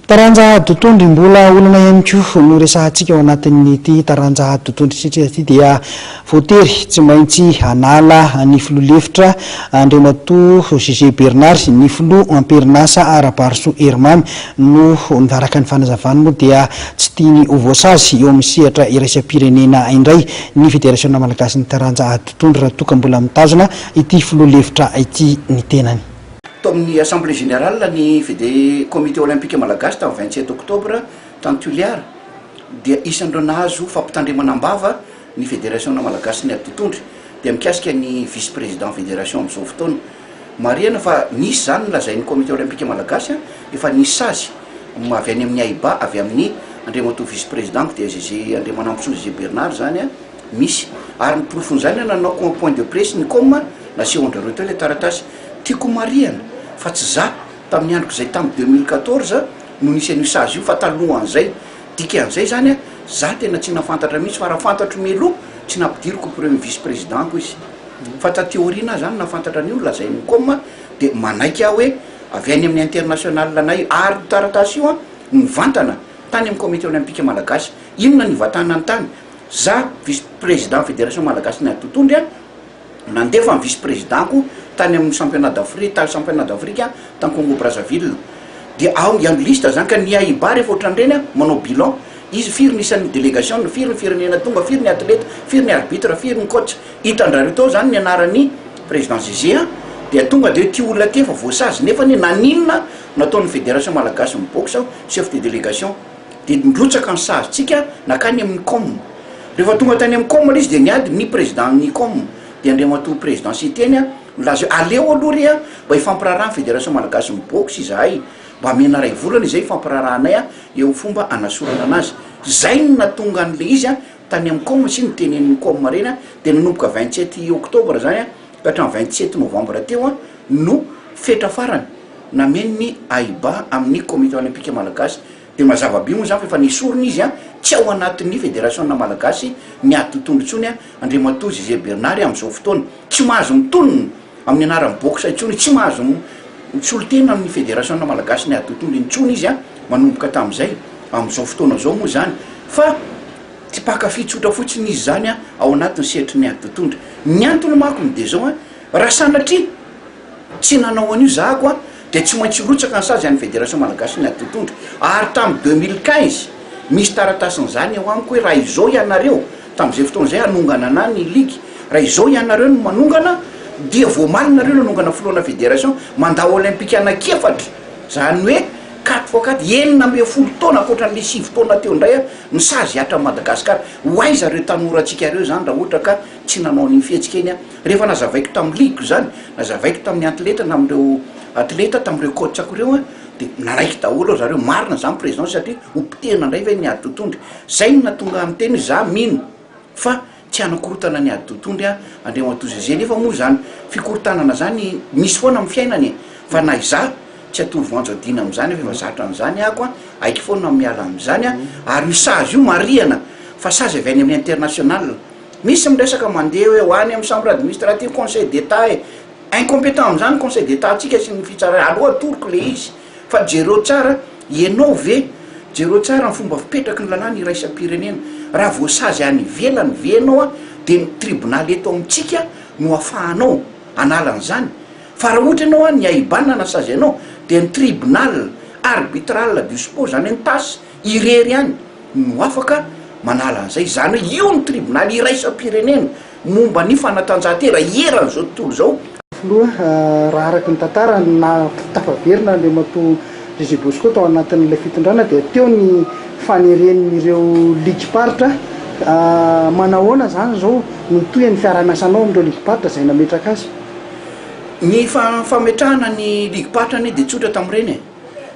Taranja dotondry mbola olana ihany koa no resahantsika ao anatin'ity taranja dotondry tretretra ity dia voatery tsy maintsy hanala ny filoha lefitra Andriamatoa Jugé Bernard ny filoha amperin'asa Rabarisoa Herimamy noho araka ny fanazavany moa dia tsy tiany ho voasazy eo amin'ny sehatra iraisam-pirenena indray ny federasiona malagasin'ny taranja dotondry raha toa ka mbola mitazona ity filoha lefitra ity ny tenany. Malagasy. Tao amin'ny Assemblée Générale ny Fede Comité Olympique Malagasy tamin'ny vingt sept octobre tany Toliara dia isan'ireo nahazo fampitandremana am-bava ny Federasiona Malagasin'ny Ady Totondry dia mikasika ny Vice Président Fédération amin'izao fotoana. Marihana fa nisy izany nolazain'ny Comité Olympique Malagasy efa nisy sazy avy any amin'ny AIBA avy amin'ny Andriamatoa Vice Président-ko dia ZG Andriamanampisoa ZG Bernard izany Misy. Ary ny porofon'izany an nanaoko en point de presse ny com nasehon-drareo teo ilay taratasy. Tiako homarihana fa tsy za, tamin'ny androko izay tamin'ny deux mille quatorze, no nisy an'io sazy io fa talohan'izay. Dikan'izay izany an, za tena tsy nahafantatra mihitsy fa raha fantatro mialoha tsy nampidiriko ho premier vice président-ko izy. Fa taty aoriana aho izany nahafantatra an'io nolazain'ny com dia manaiky aho hoe avy any amin'ny international anay io. Ary io taratasy io an, nivantana tany amin'ny comité olympique malagasy. Inona no ivantanany tany? Za, vice président Fédération Malagasy ny Ady Totohondry a, nandefa ny vice président-ko tany amin'ny Championnat d'Afri, tany Championnat d'Afrika tany Congo Brazzaville. Dia ao ny an'ny liste zany ka ny AIBA rehefa ohatran'ny ireny a, manao bilan, izy firy ny isan'ny délégation-ny, firy ny firenena tonga, firy ny athlète, firy ny arbitre, firy ny coach. Hitan-drareo tao zany ny anaran'i président Zézé a. Dia tonga dia ity olona ity efa voasazy nefany naninona nataon'ny Fédération Malagasy ny boxe chef de délégation. dia nirotsaka ny sarintsika nankany amin'ny Com. Rehefa tonga tany amin'ny Com ilay izy dia niady ny Président-n'ny Com, dia Andriamatoa Président Siteny a, nilaza hoe aleo aloha re a, mba hifampiraharaha ny Fédération Malagasin'ny Boxe izahay, mba amena iray volana izay hifampiraharahanay a, eo fomba hanasorana anazy. Izay no nahatonga an'ilay izy a, tany amin'ny Com, sy ny Tenenin'ny Com ireny a, dia nanomboka vingt sept octobre izany a, ka hatramin'ny vingt sept novembre teo a, no fetra farany. nameno ny AIBA amin'ny Komite Olympika Malagasy dia mazava be moa izany fa efa nesorina izy an, tsy ao anatin'ny Federasiona Malagasy ny ady totohondry intsony an, Andriamatoa Jugé Bernard amin'izao fotoana. Tsy mahazo mitonona amin'ny anaran'ny boxe intsony, tsy mahazo misolo tena amin'ny Federasiona Malagasy ny ady totohondry intsony izy an, manomboka tamin'izay, amin'izao fotoana izao moa izany fa tsy mpankafy tsotra fotsiny izy izany an, ao anatin'ny sehatry ny ady totohondry. Ny antony manko no dia izao an, raha sanatria. Tsy nanao an'io zahako an! Dia tsy maintsy hirotsaka ny sazy any Fédération Malagasy ny ady totohondry. Ary tamin'ny deux mille quinze, misy taratasin'izany eo amiko hoe raha izao ianareo, tamin'izay fotoana izay hanongana ana ny ligue, raha izao ianareo no manongana, dia voamaly nareo ny hanongana filohana Fédération, mandat olympique anankiefatra, izany hoe quatre fois quatre, enina ambin'ny folo taona, ankoatran'ilay sivy taona teo indray an, ny sazy hiatrany Madagascar. Ho aiza ireo tanora antsika ireo izany raha ohatra ka. Tsy nanao an'iny fihetsika iny aho. Rehefa nazavaiko tamin'ny ligue izany, nazavaiko tamin'ny antiletra na amin'ireo atleta, tamin'ireo coach-ko ireo an, dia nanaiky daholo ry zareo, marina izany président satria ho potehina indray ve ny ady totohondry? Izay no nahatonga ahy niteny hoe za mino fa tsy hanakorotana ny ady totohondry an, Andriamatoa José, nefa moa izany fikorontanana izany misy foana amin'ny fiainana e! Fa na izaho tsy hatory voanjo adina amin'izany aho fa efa zatra an'izany ahako an, aiko foana ny miala amin'izany an, ary io sazy io marihana fa sazy avy any amin'ny international. Misy miresaka mandeha hoe ho any amin'ny chambre administrative conseil d'Etat e! Incompetent amin'izany conseil d'Etat ntsika sy ny fitsarana, aleo atoroko ilay izy fa jereo tsara ianao ve jereo tsara ny fomba fipetraky ny lalàna iraisam-pirenena, raha voasazy any ivelany ve ianao dia ny tribonaly eto amintsika no ahafahanao hanala an'izany fa raha ohatra ianao any IBAN nasazy anao dia ny tribunal arbitral du sport izany hoe ny tas Irery ihany no afaka manala an'izay. Izany hoe io no tribonaly iraisam-pirenena momba ny fanatanjahantena eran'izao tontolo izao. Filoha, raha araka ny tantara, tafaverina Andriamatoa Gégé Bosco tao anatin'ilay fitondrana dia teo ny faneren'ireo ligim-paritra. Manahoana izany izao no mitohy ny fiaraha-miasanao amin'ireo ligim-paritra izay nametraka azy? Ny fametrahana ny ligim-paritra anie dia tsotra tamin'ireny e!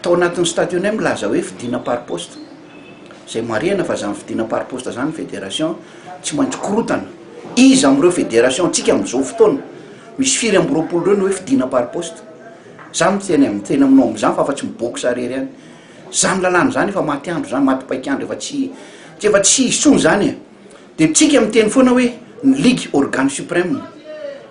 Tao anatin'ny stadionay milaza hoe fidina par poste. Izay marihana fa izany fidina par poste izany ny federation tsy maintsy korotana. Iza amin'ireo federation antsika amin'izao fotoana misy firy amby roapolo ireo no hoe fidina par poste? Za miteny amin'ny teny aminao amin'izany fa afa-tsy mibox irery ihany. Izany lalàna izany efa maty andro izany, maty paik'andro, efa tsy tsy efa tsy hisy intsony izany e! Dia tsika miteny foana hoe ny ligue organe supreme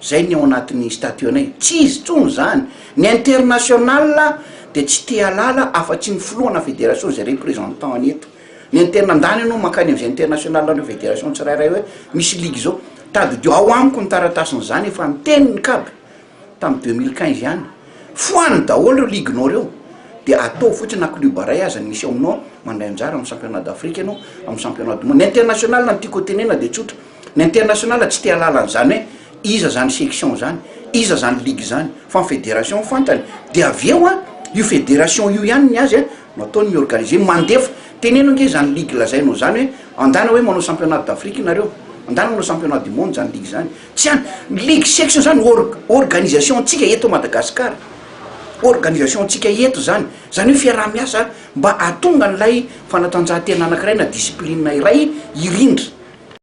zay ny ao anatin'ny statut anay. Tsy izy tsony zany. Ny international dia tsy te halala afa tsy ny filohana federation zay représentant any eto. Ny interna ndany anao mankany amzay international an'ireo federation tsirairay hoe misy ligue zao. Tadidio ao amiko ny taratasin'zany efa niteny ny cab. tamin'ny deux mille quinze ihany, foano daholo ireo ligue-nao ireo, dia ataovy fotsiny na club iray aza ny misy ao aminao mandray anjara amin'ny championnat d'Afrique ianao, amin'ny championnat du monde, ny international no tiako hotenenana dia tsotra, ny international tsy te-hahalala an'izany hoe iza izany section izany, iza izany ligue izany, fa ny fédération no fantany, dia avy eo an, io fédération io ihany ny azy an, no ataony mi-organiser, mandefa, teneno ange izany ligue lazainao izany hoe andana hoe manao championnat d'Afrique nareo, andana manao championnat du monde izany ligue izany. Tsy an, ny ligue section zany org, organisation ntsika eto Madagascar, organisation ntsika eto zany, zany hoe fiaraha miasa mba ahatonga an'ilay fanatanjahantena anakiray na discipline iray hirindra.